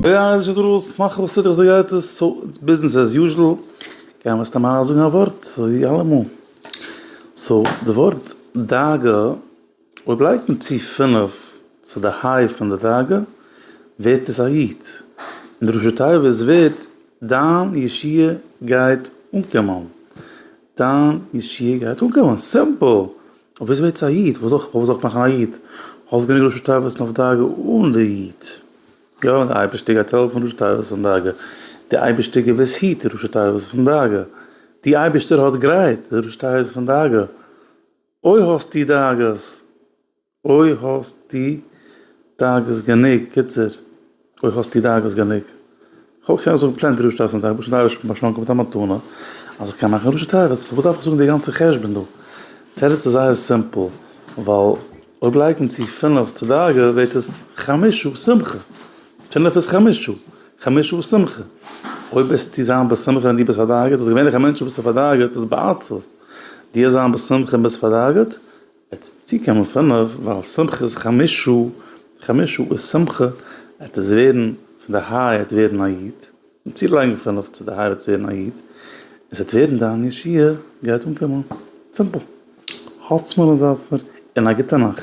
די אייער איז שוין דערוואס, מאך וואס טוט זיך זיי גייט עס, סאו איטס ביזנעס עז יוזשעל, גייען מיר סתם אריין זאגן א ווארט ווי אלעמאל, סאו די ווארט דאגה, אויב לייגט מען צו פֿינף צו די היי פון די דאגה ווערט עס א יוט, און ראשי תיבות ווערט דיין ישועה גייט אנקומען. דיין ישיבה גייט אנקומען, סימפל! אבער איז ווערטס א איד, וואס זאל איך מאכן א איד? האסט גענוג ראשי תיבות אויף דאגה אן די איד? יא, די אייבערשטער גייט העלפן ראשי תיבות פון דאגה, די אייבערשטער געוויס היט די ראשי תיבות פון דאגה, די אייבערשטער האט גרייט די ראשי תיבות פון דאגה, אוי האסטו דאגות! אוי האסטו דאגות גענוג, קיצור, אוי האסטו דאגות גענוג. כ'וואלט געקענט זאגן פלעין דרשת אסון טייבער, פשוט אייבערשטן האט מיר באשאנקען מיט א מתנה אז איך קען מאכן דרשת טייבער, סאו וואס דארף איך זאגן די גאנצע חשבון דא? תירוץ איז זייער סימפל, ווייל אויב לייגט מען צו פינף צו דאגה ווערט עס חמשה שמחה, פינף איז חמשה, חמשה איז שמחה, אויב וועסטו זיין בשמחה ווען דו ביסט פארדאגה'ט, וואס געווענליך א מענטש וואס איז פארדאגה'ט איז בעצבות, דו זיין בשמחה און ביסט פארדאגה'ט. עטס צוקומען פינף ווייל שמחת חמשה חמשה איז שמחה עטס ווערן פון די היי עטס ווערן א איד און צולייגן פינף צו די היי עטס ווערן א איד און ס'עט ווערן דיין ישועה גייט אנקומען סימפל האלטס מיר און זייטס מיר און א גוטע נאכט.